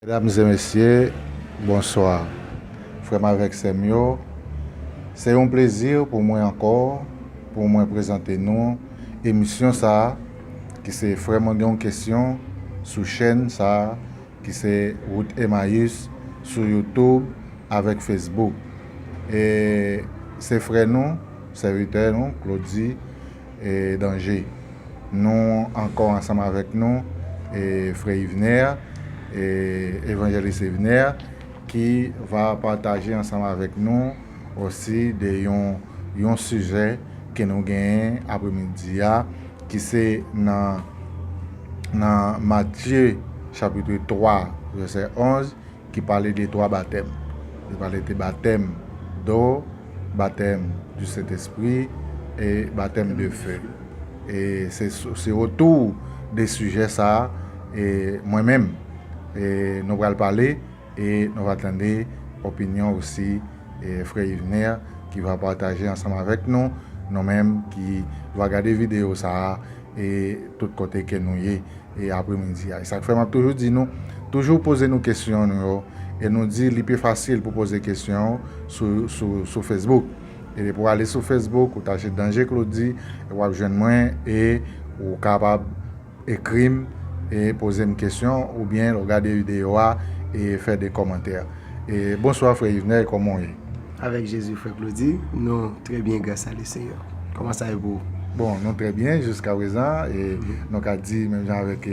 Medam e mesye, bonswa. Frè m avèk sè m yo, se yon plezi pou mwen ankò pou mwen prezante nou emisyon sa a ki se Frè mwen gen yon kesyon sou chèn sa a ki se Wout Emayis sou Youtube avèk Facebook. E se frè nou, sèvitè nou, Claudy, Danje. Nou ankò ansanm avèk nou frè Yvner, Evanjelis Yvner ki va pataje ansanm avèk nou osi de yon sijè ke nou genyen apremidi a ki se nan Matye chapitre 3 vèsè 11 Ki pale de twa batèm. Li pale de batèm do, batèm di Sentespri e batèm de fe. E se se otou de sijè sa a e mwen menm e nou pral pale e nou va tande opinyon osi e frè Yvner ki va pataje ansanm avèk nou, nou menm ki va gade videyo sa a e tout kote ke nou ye. e apremidi a. E sa k fè m ap toujou di nou, toujou poze nou kesyon nou yo, e nou di li pi fasil pou poze kesyon sou Facebook. E depi w ale sou Facebook, ou tache Danje Claudy, w ap jwenn mwen, e ou kapab ekri m, e poze m kesyon, oubyen lè w gade videyo a, e fè de kòmantè. E bonswa frè Yvner, kòman w ye? Avèk Jezi frè Claudy, nou trè byen gras a le Seyè. Kòman sa ye pou ou? Bon, nou trè byen jiska prezan e nou ka di menm jan avèk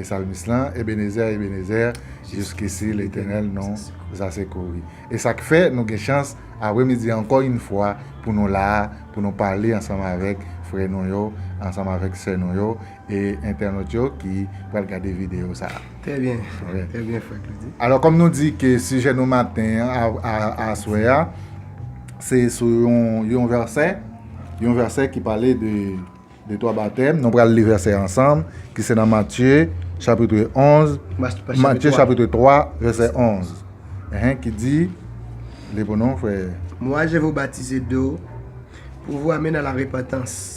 salmis lan, Ebenezè, Ebenezè, jiskisi Letènèl nou za sekouri. E sa k fè nou gen chans apre midi an ankò yn fwa pou nou la a, pou nou pale ansanm avèk frè nou yo, ansanm avèk sè nou yo, e entènot yo ki pral gade videyo sa a. Trè byen, trè byen frè Klodi. Alò kòm nou di ke sijè nou maten an aswè a se sou yon vèsè, yon vèsè ki pale de twa batèm, nou pral li vèsè a ansanm ki se nan Matye chapitre 11, Matye chapitre 3 vèsè 11 ki di, li pou nou frè. Mwa je vou batize do pou vou ame nan larepantans.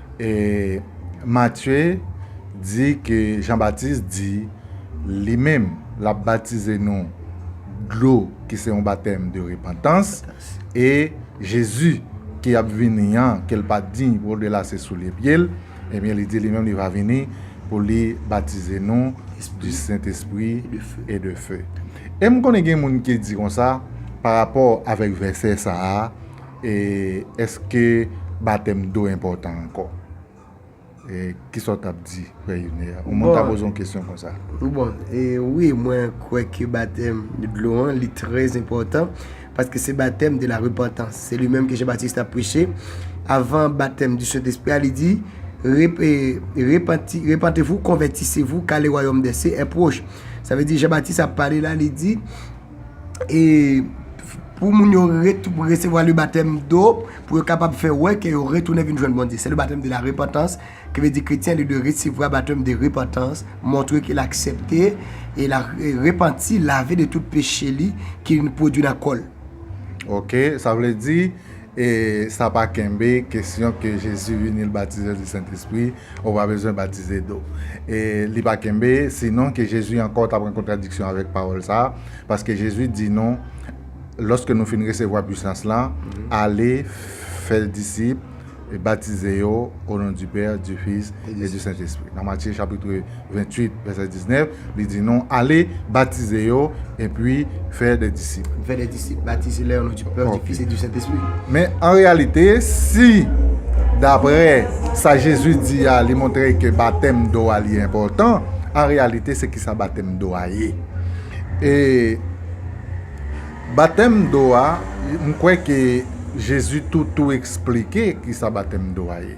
E Matye di ke Jan Batis di li menm l ap batize nou dlo ki se yon batèm de repantans, e Jezi ki ap vini an ke l pa diy pou l de lase soulye pye l, ebyen li di li menm li va vini pou li batize nou di Sentespri e de fe. E m konnen gen moun ki di konsa parapò avèk vèsè sa a, E eske batèm do enpòtan ankò? E kisa ou tap di frè Yner? Ou moun ta poze yon kesyon konsa. Bon, e wi mwen kwè ke batèm de dlo an li trè enpòtan, paske se batèm de la repantans. Se li menm ke Jan Batis tap preche, avan batèm di Sentespri a, li di, Repanti, repantevou, konvètisevou, ka le wayòm dè sie è pwoch. Sa vle di Jan Batis ap pale la, li di. e pou moun yo resevwa le batèm do, pou yo kapab fè wè ke yo retounen vin jwenn Bondye. Se le batèm de la repantans, ki vle di kretyen li dwe resevwa batèm de repantans, montre ke l aksepte e l repanti, lave de tout peche li ki pwodui nan kò l. Ok, sa vle di. E sa pa kenbe kesyon ke Jezi vini l batize yo di Sentespri, ou pa bezwen batize do. E li pa kenbe si non ke Jezi ankò ta pran kontradiksyon avèk pawòl sa a, paske Jezi di nou, lòske nou fin resevwa pwisans lan, ale, fè disip, e batize yo o non di Pè, di Fis, e di Sentespri. Nan Matye chapitre. 28 vèsè 19, li di nou, Ale, batize yo, epi fè de disip. Fè de disip, batize lè yon non di Pè, di Fis e di Sentespri. Men, an reyalite, si daprè sa Jezi di a, li montre ke batèm do a li enpòtan, an reyalite se kisa batèm do a ye? E batèm do a, m kwè ke Jezi tou tou esplike kisa batèm do a ye.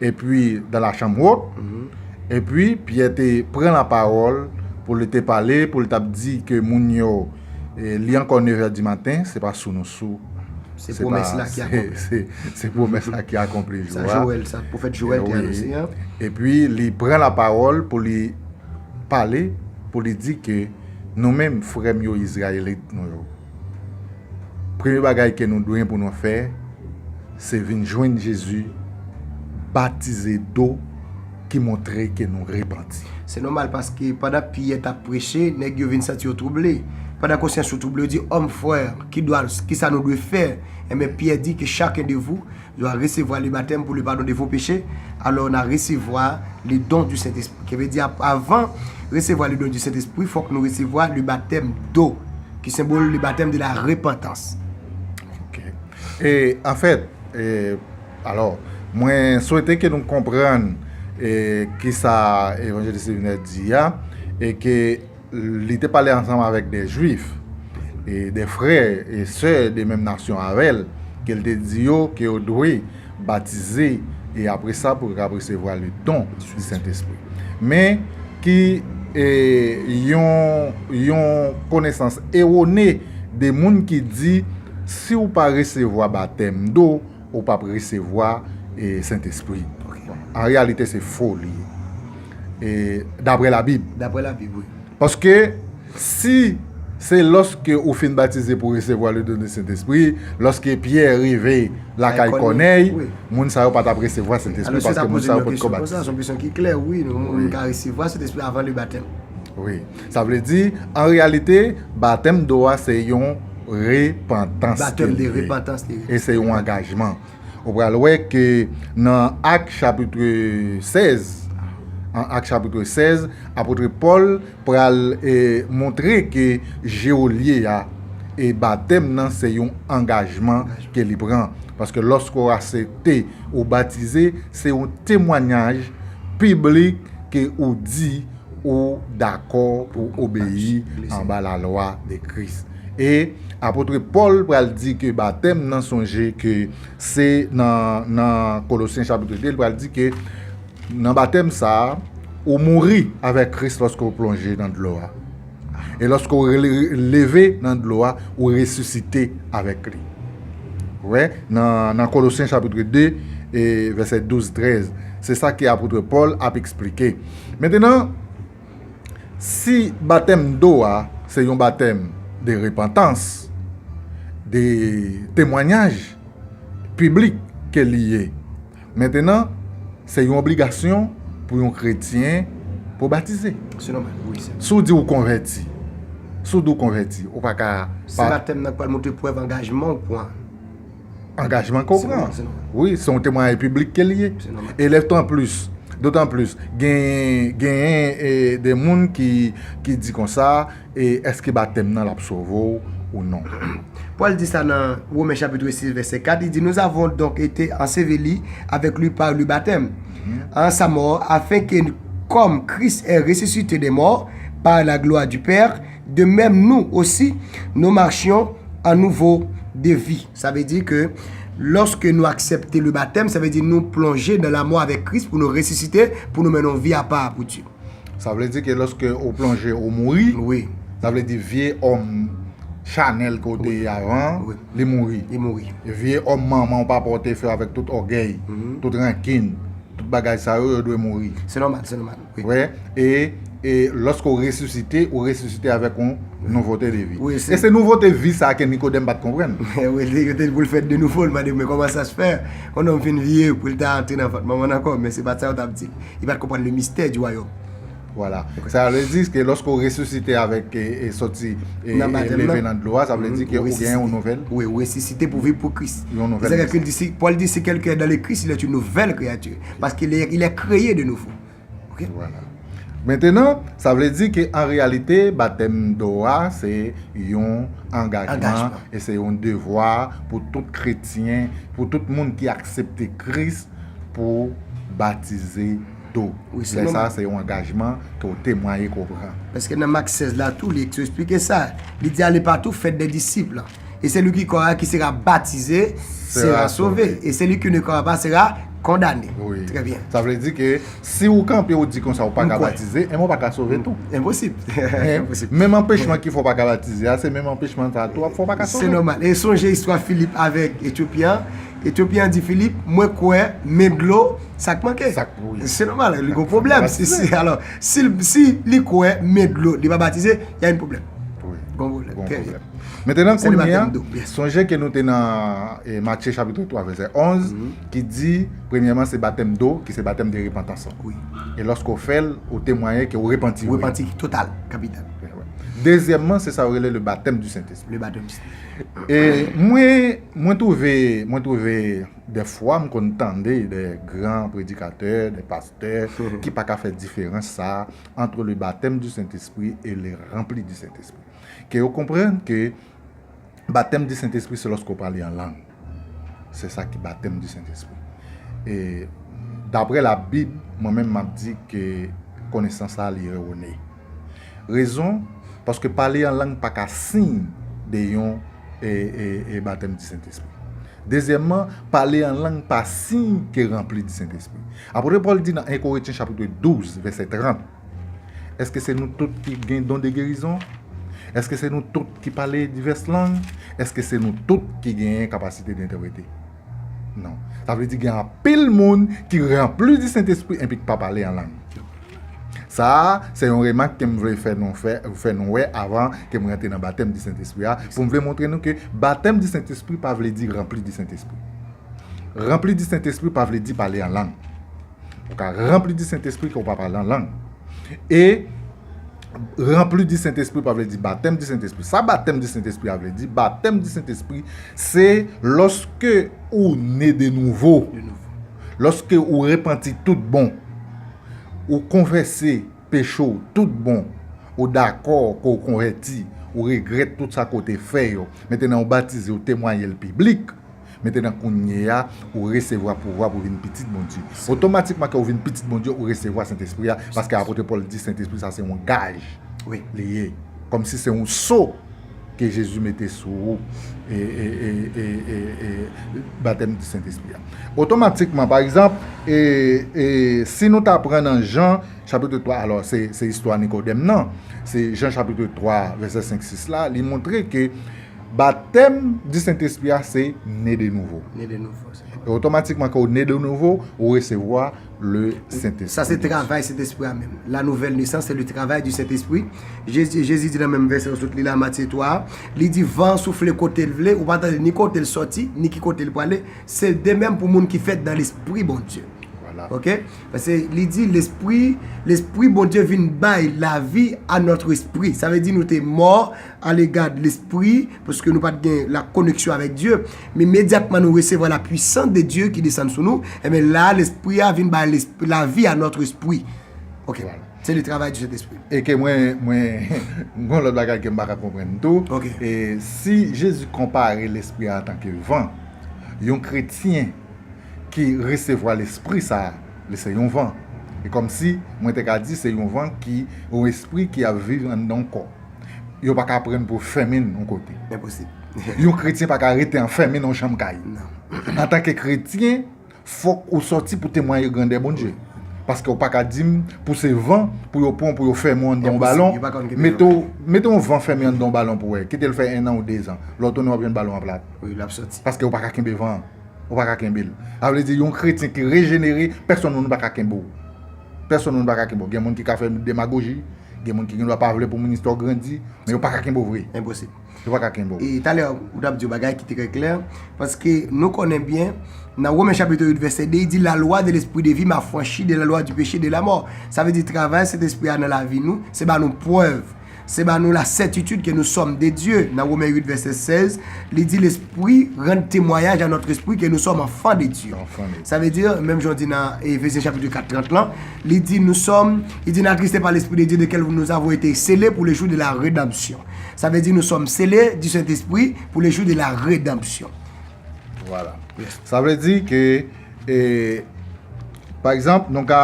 epi dan la chanm wot, epi Pyè te pran lapawòl pou li te pale, pou li t'ap di ke moun yo, li ankò nevè di maten, se pa sou nou sou. Se pwomès la ki akonpli. Se pwomès la ki akonpli jou a. Sa Jowèl, sa pwofèt Jowèl te anonse an. Epi li pran lapawòl pou li pale, pou li di ke nou menm frè m yo Izrayelit nou yo. Premye bagay ke nou dwen pou nou fè se vin jwenn Jezi batize do ki montre ke nou repanti. Se nòmal paske pandan Pyè tap preche, nèg yo vin santi yo twouble. Pandan konsyans yo twouble, yo di, Òm, frè, kidwa, kisa nou dwe fè? Enben Pyè di ke chaken de vou Yo a resevwa le batèm pou le padon de vo peche, alò na resevwa le don di Sentespri. Ke vle di a, avan resevwa le don di Sentespri, fòk nou resevwa le batèm do, ki senbol le batèm de la repantans. Ok. E, anfèt, e, alò, mwen swete ke nou konprann e, kisa Evanjelis Evinè di a, e ke. Li te pale ansanm avèk de Jwif, e de frè e sè de menm nasyon avè l, ke l te di yo ke yo dwe batize, e apre sa pou yo kab resevwa le don di Sentespri. Men, ki e yon yon konesans ewone de moun ki di, si ou pa resevwa batèm do, Ou pap resevwa sentespri. An reyalite se foli. E dapre la bib. Dapre la bib wi. Paske si se loske ou fin batize pou resevwa le don de sentespri. Loske pyè rive lakay kònèy. Moun sa yo pa tap resevwa sentespri. Paske moun sa yo pot ko batize. Son kesyon ki klè wi. Moun ka resevwa sentespri avan le batèm. Wi. Sa vle di, an reyalite, batèm do a se yon repantans ke li ye. E se yon angajman. Ou pral wè ke nan Ak chapitre 16, an Ak chapitre 16, apotre Pòl pral montre ke je w lye a, e batèm nan se yon angajman ke li pran. Paske lòske w asepte, ou batize, se yon temwanyaj piblik ke ou di, Ou dakò pou w obeyi anba lalwa de Kris. E apotre Pòl pral di ke batèm nan sonje ke se nan nan Kolosyen chapitre 2 li pral di ke nan batèm sa ou mouri avèk Kris lòske ou plonje nan dlo a. E lòske ou leve nan dlo a ou resisite avèk li. Ou wè nan nan Kolosyen chapitre 2 e vèsè 12, 13 se sa ke apotre Pòl ap eksplike. Mentenan, si batèm do a se yon batèm de repantans, de temwanyaj piblik ke li ye, mentenan, se yon obligasyon pou yon kretyen pou batize. Se nòmal, wi, sè. Si w di ou konvèti, si w di ou konvèti, ou pa ka pa. Se batèm nan k pral montre prèv angajman ou pran. Angajman ke w pran. Wi, se yon temwayaj piblik ke l ye. E lè tan plis, dotan plis, genyen de moun ki di konsa, eske batèm nan l ap sove w ou non? Pòl di sa nan Women chapitre 6 vèsè 4, li di, Nou avon donk ete anseveli avèk li pa le batèm an sa mò, afenke kòm Kris è resisite de mò pa laglwa di Pè, De mèm nou osi, nou machyon an nouvo de vi. Sa vle di ke lòske nou aksepte le batèm, sa vle di nou plonje nan lamò avèk Kris pou nou resisite, pou nou mennen yon vi apa a pou Dye. Sa vle di ke lòske ou plonje, ou mouri. Wi. Sa vle di vye òm chanèl ke ou te ye avan an, li mouri. Li mouri. Vye òm manman ou papa ou te fè avèk tout ògèy, tout rankin, tout bagay sa yo, yo dwe mouri. Se nòmal, se nòmal. Vre, e, e, lòske w resisite, ou resisite avèk yon nouvote de vi. Wi, se. E se nouvote vi sa a ke Nikodèm pa t konprann. Men, wi, li, yo te di pou l fèt de nouvo, li mande, men kòman sa se fè, yon nonm fin vye, pou l ta antre nan vant manman l ankò? Men se pa t sa yo t ap di l. Li pa t konprann le mistè di wayòm. Vwala. Sa a vle di ke lòske w resisite avèk, e, e, sòti, e, e, leve nan dlo a, sa vle di ke ou gen yon nouvèl. Wi, ou resisite pou viv pou Kris. Yon nouvèl. Se sa ke Pòl di, si kèlken è dan le Kris, il è yon nouvèl kreyati. Paske li è, il è kreye de nouvo. Ok. Vwala. Mentenan, sa vle di ke an reyalite batèm do a se yon angajman Angajman. e se yon devwa pou tout kretyen, pou tout moun ki aksepte Kris pou batize do. Wi, se Lè menm. sa se yon angajman ke w temwaye ke w pran. Paske nan Mak 16 la tou li esplike sa. Li di ale patou fè dè disip. E seli ki kwè a ki sera batize sera sove. E seli ki ne kwè pa sera kondane. Trè byen. Sa vle di ke si ou kanpe ou di konsa ou pa ka batize, enben ou pa ka sove tou. Enposib. Menm anpechman ki fè ou pa ka batize a, se menm anpechman sa tou ap fè ou pa ka sove. Se nòmal. E sonje istwa Filip avèk Etyopyen an. Etyopyen an di Filip, mwen kwè, men dlo, sa k manke? Sa k manke, wi. Se nòmal, li gon pwoblèm. Si li kwè, men dlo, li pa batize, y a yn pwoblèm. Wi. Gon pwoblèm. Trè byen. Metenan kounye a, sonje ke nou te nan Matye chapitre 3 vese 11, ki di, premyeman se batèm do, ki se batèm de repantans. E loske ou fèl, ou temwaye ke ou repanti. Ou repanti, total, kapital. Dezyèmman, se sa ou rele le batèm du Sentespri. Le batèm du Sentespri. E mwen, mwen twouve, mwen twouve, de fwa m konn tande de gran predikatè, de pastè, ki pa ka fè diferans sa, antre le batèm du Sentespri e le ranpli du Sentespri. Ke yo konprann ke batèm di Sentespri se lòske w pale an lang. Se sa ki batèm di Sentespri. E dapre Labib, mwen menm m ap di ke konesans sa a li erone. Rezon, paske pale an lang pa ka siy de yon batèm di Sentespri. Dezyèmman, pale an lang pa siy ke ranpli di Sentespri. Apôtre Paul di nan 1 Corinthiens chapitre 12 verset 30. Èske se nou tout ki gen don de gerizon? Èske se nou tout ki pale divès lang? Èske se nou tout ki genyen kapasite de entèprete? Non. Sa vle di gen anpil moun ki ranpli di Sentespri enpi k pa pale an lang. Sa a, se yon remak ke m vle fè nou fè, fè nou wè avan ke m rantre nan batèm di Sentespri a, pou m vle montre nou ke batèm di Sentespri pa vle di ranpli di Sentespri. Ranpli di Sentespri pa vle di pale an lang. Ou ka ranpli di Sentespri ke ou pa pale an lang. E, ranpli di Sentespri pa vle di batèm di Sentespri. Sa batèm di Sentespri a vle di, batèm di Sentespri, se lòske ou ne de nouvo, lòske ou repanti tout bon, ou konfese peche ou tout bon, ou dakò ke ou konvèti, ou regrèt tout sa ke ou te fè yo, metenan ou batize, ou temwaye l piblik. Mentènan kounyeya, ou resevwa pouvwa pou vin pitit Bondye. Otomatikman ke ou vin pitit Bondye, ou resevwa Sentespri a, paske Apotre Paul di Sentespri sa se yon gaj li ye. Kòmsi se yon so ke Jezi mete sou ou, e batèm di Sentespri a. Otomatikman, pa egzanp, si nou ta pran nan Jan chapitre 3, alò se istwa Nikodèm nan, se Jan chapitre 3 vèsè 5, 6 la, li montre ke Batèm di Sentespri a se ne de nouvo. Ne de nouvo, se sa. E otomatikman ke ou ne de nouvo, ou resevwa le Sentespri. Sa se travay Sentespri a menm. La nouvèl nesans se le travay di Sentespri. Jezi, Jezi di nan menm vèsè ou sot li la, Matye 3 a, li di, van an soufle kote l vle, ou pa tande ni kote l sòti, ni ki kote l prale, se de menm pou moun ki fèt dan Lespri Bondye. Vwala. Ok? Pase li di Lespri, Lespri Bondye vin bay lavi a nòt espri. Sa vle di nou te mò. Ale gad lespri, paske nou pa t gen la koneksyon avèk Dye. Men imedyatman nou resevwa la pwisans de Dye ki desann sou nou, enben la a Lespri a vin bay lavi a nòt espri. Ok. Se le travay du Sentespri. E ke mwen, mwen, m gen yon lòt bagay ke m pa ka konprann tou. Ok. E si Jezi konpare Lespri a antanke van, yon kretyen ki resevwa Lespri sa a, li se yon van. E kòmsi mwen te ka di se yon van ki, yon espri ki ap viv anndan yon kò. Yo pa ka pran pou fèmin yon kote. Enposib. Yon kretyen pa ka rete anfèmin nan yon chanm kay. Non. Antanke kretyen, fòk ou sòti pou temwaye grandè Bondye. Paske ou pa ka di m pou se van pou yo pran w pou yo fèmen w anndan yon balon. Enposib. Yo pa konn kite yo anfèmin. Mete yon van fèmen anndan yon balon pou wè. Kite l fè ennan ou dezan. Lè w tounen w ap jwenn balon an plat. Wi, l ap sòti. Paske ou pa ka kenbe van an. Ou pa ka kenbe l. Sa vle di yon kretyen ki rejenere, pèsonn moun pa ka kenbe w. Pèsonn moun pa ka kenbe w. Gen moun ki ka fè demagoji. Gen moun ki gen dwa pa vle pou moun istwa w grandi, men yo pa ka kenbe w vre. Enposib. Yo pa ka kenbe w. E talè ou t ap di yon bagay ki trè klè, paske nou konnen byen nan Women chapitr 8 vèsè 2 li di la lwa de lespri de vi m afranchi de la lwa di peche e de lamò. Sa vle di travay Sentespri a nan lavi nou se ba nou prèv, se ba nou lasètitid ke nou sòm de Dye. Nan Women 8 vèsè 16 li di lespri rann temwayaj a nòtrespri ke nou sòm anfan de Dye. Sa vle di menm jan w di nan Efezyen chapitr 4 30 lan, Li di nou sòm, li di na triste pa lespri de Dye de kèl nou avon ete sele pou le jou de la redanpsyon. Sa vle di nou sòm sele di Sentespri pou le jou de la redanpsyon. Vwala. Sa vle di ke e pa egzanp nou ka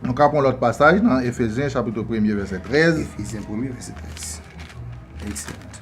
nou ka pran lòt pasaj nan Efezyen chapito premye vèsè trèz. Efezyen premye vèsè trèz. Ekselant.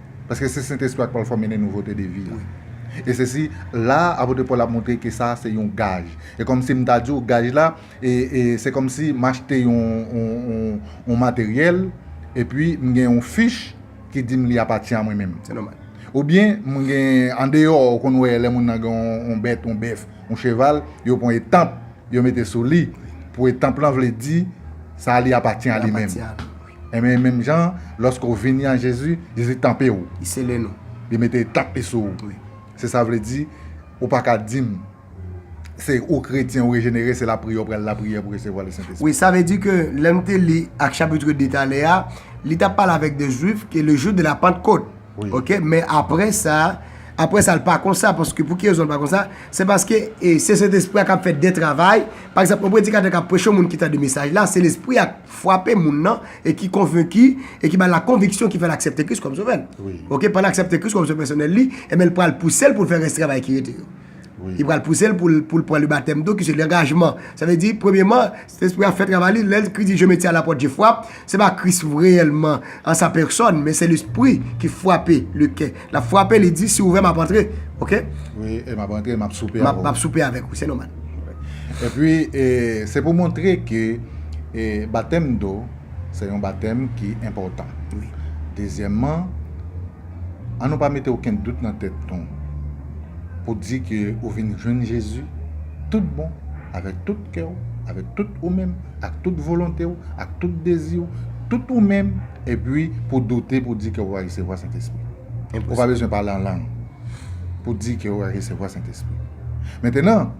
Paske se Sentespri a ki pral fòme nou nouvote de vi a. E se si, la a, apotre Pòl ap montre ke sa a se yon gaj. E kòm si m ta di w gaj la, e, e, se kòm si m achte yon, yon, yon, yon materyèl, epi m gen yon fich ki di m li apatyen a mwen menm. Se nòmal. Oubyen, m gen, andeyò, ou konn wè lè moun nan gen yon, yon bèt, yon bèf, yon cheval, yo pran etanp, yo mete sou li, pou etanp lan vle di, sa a li apatyen a li menm. Li apatyen a li. Enben, menm jan an, lòske ou vini an Jezi, Jezi tanpe ou. Li sele nou. Li mete etanp li sou ou. Wi. Se sa vle di, ou pa ka di m, se ou kretyen, ou rejenere, se lapriyè ou pral lapriyè pou resevwa Lesentespri. Wi, sa vle di ke lè m te li Acte chapitre 2 talè a, li t ap pale avèk de Juif ke le jou de la Pantkot. Wi. Ok, men apre sa, apre sa l pa konsa, paske pou ki rezon l pa konsa? Se paske e se Sentespri a k ap fè de travay, pa egzanp, yon predikatè k ap preche yon moun ki tande mesaj la, se Lespri a k. fwape moun nan e ki konvenki e ki ba l la konviksyon ki fè l aksepte Kris kòm sovè l. Ok, pandan l aksepte Kris kòm sovè pèsonèl li, enben l pral pouse l pou l fè rès travay ki rete yo. Li pral pouse l pou l pou l pran lebatèm tou ki se langajman. Sa vle di, premyeman, Sentespri a fè travay li, lè Kris di je me tiens à la porte je frappe, se pa Kris reyèlman an sa pèsòn, men se Lespri ki fwape le kè. Lap frape li di si ouvè map antre ok. Wi e map antre map soupe avè w. Map soupe avè w se nomal. Epi se pou montre ke batèm do se yon batèm ki enpòtan. Wi. Dezyèman an nou pa mete okenn dout nan tèt nou pou di ke ou vin jwenn Jezi tout bon avèk tout kè w avèk tout ou menm. Ak tout volonte w, ak tout dezi w, tout ou menm, epi pou doute pou di ke ou resevwa Sentespri. Ou pa bezwen pale an lang pou di ke ou resevwa Sentespri. Mentenan,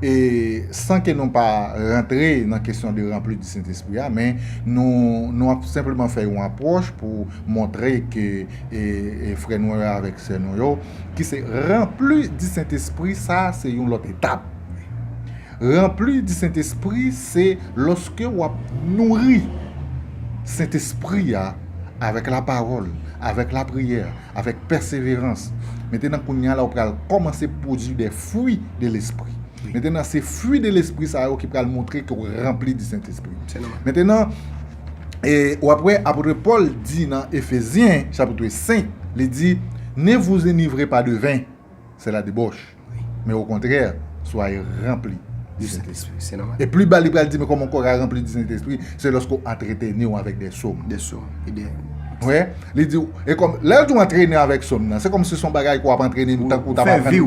e san ke nou pa rantre nan kesyon de ranpli di Sentespri a, men nou nou ap senpleman fè yon apwòch pou montre ke frè nou yo avèk sè nou yo ki se ranpli di Sentespri sa se yon lòt etap. Ranpli di Sentespri se lòske w ap nouri Sentespri a avèk lapawòl, avèk lapriyè, avèk pèseverans. Mentenan kounya la ou pral kòmanse pwodui de fwi de Lespri. Mentenan se fwi de Lespri sa yo ki pral montre ke w ranpli di Sentespri. Mentenan ou ap wè apotre Pòl di nan Efezyen chapitre 5, li di, Ne vous enivrez pas de vin, c'est la debauche. men okontrè, swaye ranpli di Sentespri. E pli ba li pral di men kòman kò ka ranpli di Sentespri, se lòske ou antreteni ou avèk de som. De som, e de. Wè, li di ou, e kòm, lè di ou antreni avèk som nan, se kòm si son bagay kou ap antreni m tankou ta pa pran,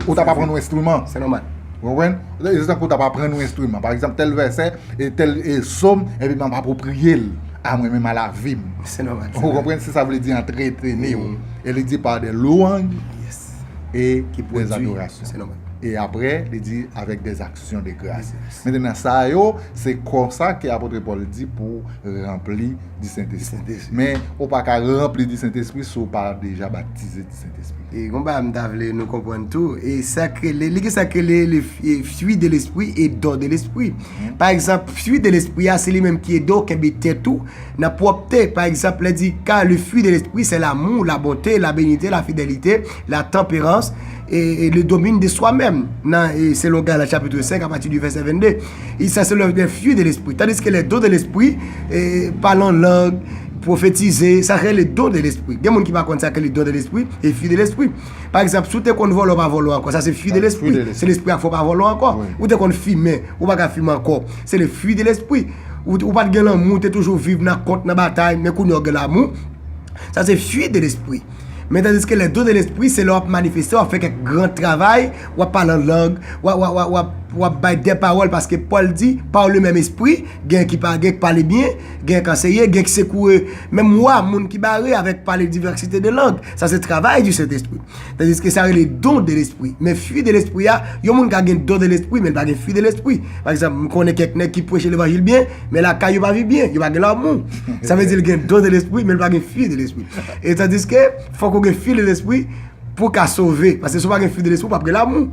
ou ta pa pran nou enstriman. Se nòmal. Ou konprann? Se tankou ta pa pran nou enstriman. Pa egzanp, tèl vèsè, e tèl e som, e pi m ap apopriye l a mwen menm a la vi m. Se nòmal. Ou konprann se sa vle di antreteni ou. E li di pa de louanj. e ki pwodui e apre li di avèk dè aksyon de gras mentenan sa yo se konsa ke apotre Paul di pou ranpli di sentespri men ou pa ka ranpli di sentespri si ou pa deja batize di sentespri e gon bagay m ta vle nou konprann tou e sa k rele li gen sa k rele le fwi de lespri e don de lespri pa egzanp fwi de lespri a se li menm ki ede w kenbe tèt ou Nan pwòpte, pa egzanp, lè di car le fruit de l'esprit c'est l'amour, la bonté, la benite, la fidelite, la temperance, et le domine de soi meme, nan selon Galat chapitre 5 apati di vèsè 22, e sa se lè fruit de l'esprit. Tandiske lè don de l'esprit, pale an lang, pwofetize, sa rele don de l'esprit. Gen moun ki pa konn sa ki rele don de l'esprit e fruit de l'esprit. Pa egzanp, si w te konn vòlò, pa vòlò ankò, sa se fruit de l'esprit, se l'esprit a fè w pa vòlò ankò. Ou te konn fimen, ou pa ka fimen ankò. Se le fruit de l'esprit. Ou pat gen lanmou, ou te toujou viv nan kont, nan batay, men kounye a ou gen lanmou. Sa se fruit de l'esprit. Men tandiske les dons de l'esprit se lè wap manifeste, wap fè kèk gran travay, wap pale an lang, wap bay de pawòl paske Paul di par le même esprit, gen ki pale byen, gen k anseye, gen k sekoue menm wa, moun ki bare avèk pale diversite de lang. Sa se travay du Saint-Esprit. Tandiske sa rele don de lespri. Men fwi de lespri a, yon moun ka gen don de lespri men l pa gen fwi de lespri. Pa egzanp, m konnen kèk nèg ki preche levanjil byen, men lakay yo pa viv byen, yo pa gen lanmou. Sa vle di l gen don de lespri men l pa gen fwi de lespri. E tandiske fòk ou gen fwi de lespri pou w ka sove. Pase si w pa gen fwi de lespri ou pap gen lanmou.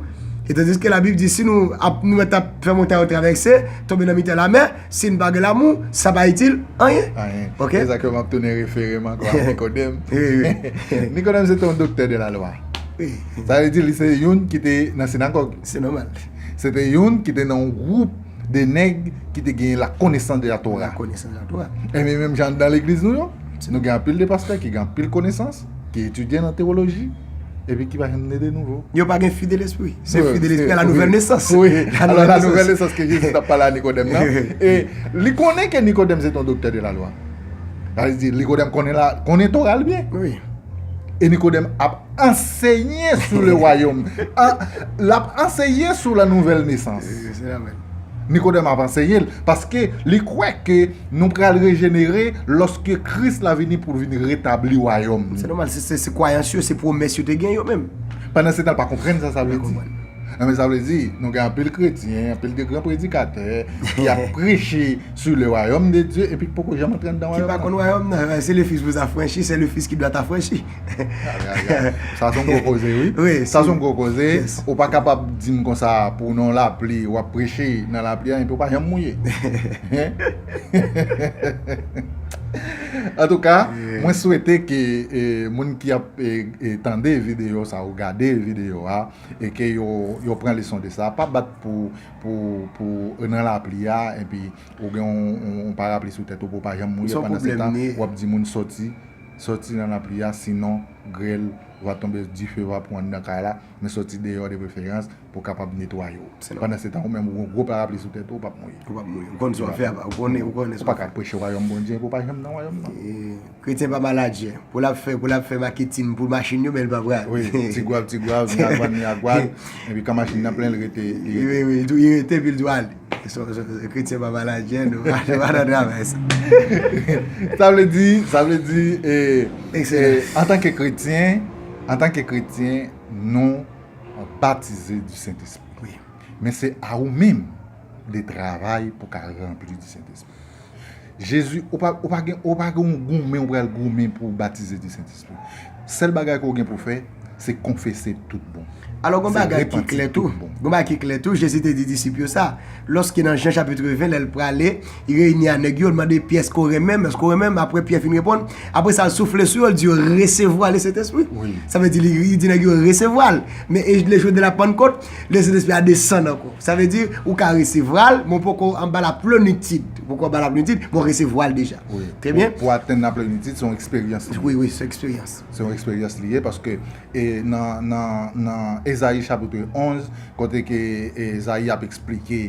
E tandiske labib di si nou ap nou mèt ap fè montay yo travèse, tonbe nan mitan lamè, Si n pa gen lamou, sa pa itil anyen. Anyen. Ok. Se sa ke m ap tounen refere m ankò a Nikodèm. Wi, wi. Nikodèm se te yon doktè de lalwa. Wi. Sa vle di li se youn ki te nan sinagòg. Se nòmal. Se te youn ki te nan yon gwoup de nèg ki te gen lakonesans de Latora. Lakonesans de Latora. Enben menm jan anndan legliz nou yo, nou gen anpil de pastè ki gen anpil konesans. ki etidye nan tewoloji, epi ki pa janm ne de nouvo. Yo pa gen fi de lespri. Se fi de lespri a la nouvèl nesans. Wi, a la nouvèl nesans ke Jezi tap pale a Nikodèm nan. E li konnen ke Nikodèm se te yon doktè de la lwa. Sa vle di, Nikodèm konnen la, konnen Tora l byen. Wi. E Nikodèm ap anseye sou le wayom. Lap anseye sou la nouvèl nesans. Se sa menm. Nikodèm ap anseye l, paske li kwè ke. Nou pral rejenere lòske Kris la vini pou l vin retabli wayòm li. Se nòmal, se kwayans yo, se pwomès yo te gen yo menm. Pandansetan, pa konprann sa sa vle di. Enben, sa vle di, nou gen anpil kretyen, anpil de gran predikatè ki ap preche sou le wayòm de Dye epi ki poko janm antre anndan wayòm nan. Ki pa konn wayòm nan. Se le Fis vous affranchit, c'est le Fils qui doit t'affranchir. Sa son gwo koze wi Sa son gwo koze Ou pa kapab di m konsa pou w nan yon lapli w ap preche nan lapli an epi w pa janm mouye Antouka mwen swete ke moun ki ap tande videyo sa ou gade videyo a e ke yo pran leson de sa pa bat pou ou nan lapli a epi ou gen yon parapli sou tèt ou pou w pa janm mouye pandan se tan w ap di moun soti Sòti nan lapli a sinon grèl va tonbe dife va pran nan kay la men sòti deyò de preferans pou kapab netwaye w. Pandan se tan ou menm ou gon gwo parapli sou tèt ou ou pap mouye. Ou pap mouye. Ou konn sa w ap fè apa. Ou konnen sa w ap fè. Ou pa ka preche wayòm Bondye epi ou pa janm nan wayòm nan. Kretyen pa maladjè. Pou l ap fè pou l ap fè maketin pou machin yo men l pa pral. Wi. Ti gwav ti gwav, mi agwàn mi agwàn epi kan machin nan plen l rete li rete. Wi wi. Li rete epi l tou ale. Kretyen pa pale ak jèn nou pa nan travay sa. Sa vle di, sa vle di, antanke kretyen, antanke kretyen nou batize di Sentespri. Men se a ou menm de travay pou ka ranpli di Sentespri. Jezi, ou pa ou pa gen ou pa gen yon goumen ou pral goumen pou ou batize di Sentespri. Sèl bagay ke w gen pou w fè, se konfese tout bon. Alò gen yon bagay ki klè tou, gen yon bagay ki klè tou, Jezi te di disip yo sa, lòske nan Jan chapitre 20 lè l prale, li reyini a nèg yo, l mande Pyè èske w renmen m, èske w renmen m, aprè Pyè fin reponn, aprè sa l soufle sou yo, l di yo, resevwa Lesentespri. Sa vle di li di nèg yo resevwa l. Men e lè jounen de la Pannkot, Le Sentespri a desann ankò. Sa vle di, ou ka resevwa l, men w poko anba la plenitid. Ou poko anba la plenitid, men w resevwa l deja. Trè byen. Pou atenn la plenitid, se yon eksperyans. Wi, wi, se yon eksperyans. Se yon eksperyans li ye, paske nan Ezayi chapitre 11, kote ke Ezayi ap eksplike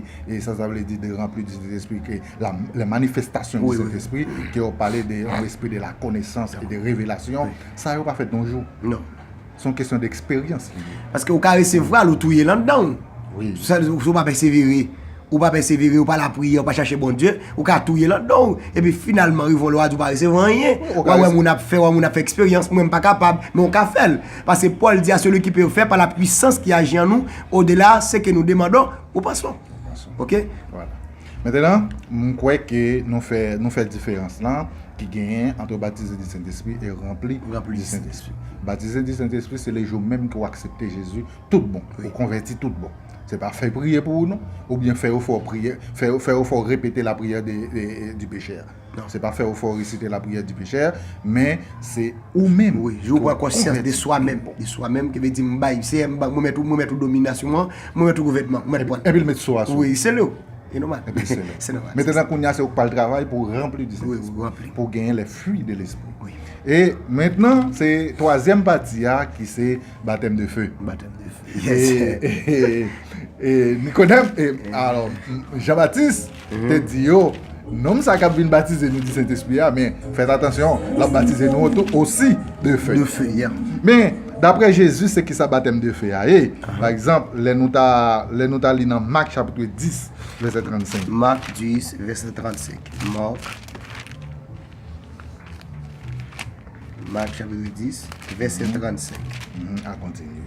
sa sa vle di de ranpli di Sentespri, ke le manifestasyon di Sentespri, ke yo pale de yon espri de la konesans e de revelasyon, sa yo pa fèt yon jou. Non. Se yon kesyon d'eksperyans li ye. Paske ou ka resevwal ou touyel andanw. Wi. Si ou pa pèsevere, ou pa pèsevere, ou pa lapriyè, ou pa chache Bondye, ou ka touyel andanw. Epi finalman rive yon lè wap di ou pa resevwa anyen. Wap wè moun ap fè, wap wè moun ap fè eksperyans, mwen mpa kapab. Men ou ka fèl. Paske Paul di a celui qui peut faire par la puissance qui agit en nous, au delà ce que nous demandons ou pensons. Ou pensons. Ok? Voilà. Maintenant, m kwè ke nou fè nou fè diferans lan ki genyen antre batize di Sentespri e ranpli di Sentespri. Batize di Sentespri se le jou menm ke w aksepte Jezi tout bon, ou konvèti tout bon. Se pa fè priye pou ou non, oubyen fè efò priye, fè efò repete lapriyè du péché a. Donk se pa fè ou fè ou resite la priyè di pechè, men se ou menm. Wi, jou ou pran konsyans de swa menm, de swa menm, ki vle di m bay, Seyè, m remèt ou, m remèt ou dominasyon an, m remèt ou gouvènman, m remèt ou. Epi l met so a sou ou. Wi, sele ou. E nòmal. Epi l sele ou. Se nòmal. Mettenan kounye a se ou k pral travay pou w ranpli di Sentespri. Wi, ou ranpli. Pou w genyen les fruits de l'esprit. Wi. E mentnan se twazyèm pati a ki se batèm de feu. Batèm de feu. Yes sir. E Nikodèm, e alò Janbatis. te di yo, Nonm sa a k ap vin batize nou di Sentespri a, men, fèt atansyon, l ap batize nou tou osi de fe. De fe, yeah. Men, dapre Jezi, se kisa batèm de fe a ye? Pa egzanp, lè nou ta, lè nou ta li nan Mak chapitre 10, vèsè 35. Mak 10, vèsè 35. Mark, Mak chapitre 10, vèsè 35. A kontinye.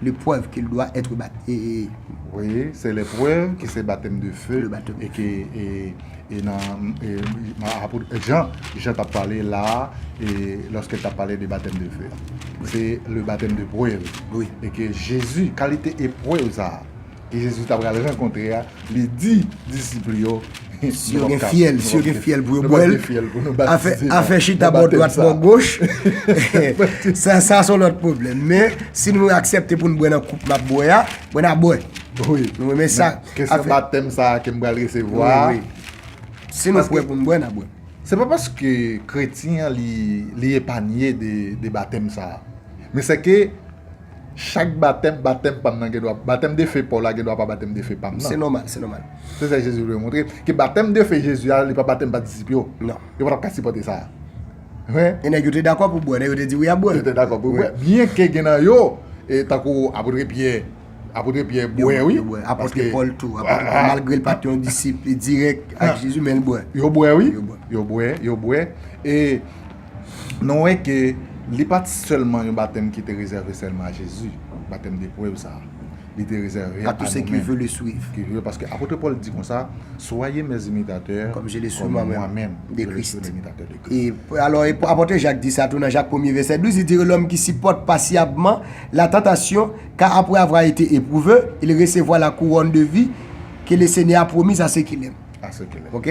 Le preuve qu'il doit etre baptisé. Voye, se le preuve ke se batèm de feu e ke e nan apot Jean, Jean tap pale la e loske l tap pale de batèm de feu. Se le batèm de preuve e ke Jezu kalite e preuve sa. Ke Jezi ta pral rankontre a, li di disip li yo, Si yo gen fyèl, si yo gen fyèl pou yo bwè l, afè chita bò dwat bò goch, sa sa son lòt pwoblèm. Men, si nou aksèpte pou nou bwè nan koup m ap bwè a, bon n a bwè. Wi. Nou renmen sa. Kesyon batèm sa a ke m pral resevwa a. Wi, wi. Si nou prè pou nou bwè, n a bwè. Se pa paske kretyen an li epanye de batèm sa a. Men sèke. Chak batèm, batèm pa m nan gen dwa, batèm de fe pa w la gen dwa pa batèm de fe pa m nan. Se nòmal, se nòmal. Se sa Jezi vle montre, ke batèm de fe Jezi a, li pa batèm pa disip yo. Non. Yo pa t ap ka sipòte sa. Mwen. E nèg yo te dakò pou bwè, nèg yo te di wi y ap bwè. Yo te dakò pou bwè. Byen ke gen nan yo, e tankou apotre Pyè, apotre Pyè bwè wi. Yo bwè. Apotre Pòl tou. Apotre Pòl malgre l pa t yon disip dirèk ak Jezi men l bwè. Yo bwè wi. Yo bwè. Yo bwè, yo bwè. E. Nou wè ke li pa t sèlman yon batèm ki te rezève sèlman a Jezi, batèm de prèv sa a. Li te rezève a nou menm. Paske apotre Pòl di konsa, Soyez mes imitateurs, comme je le suis moi-même de Christ. Alò, apotre Jak di sa tou nan Jak premye vèsè 12, li di, Lòm ki sipòte pasyabman la tantasyon, ka apre avwa ete epwouve, il resevwa la kouwòn de vi ke Lesenyè a pwomiz a se ki lèm. Ok?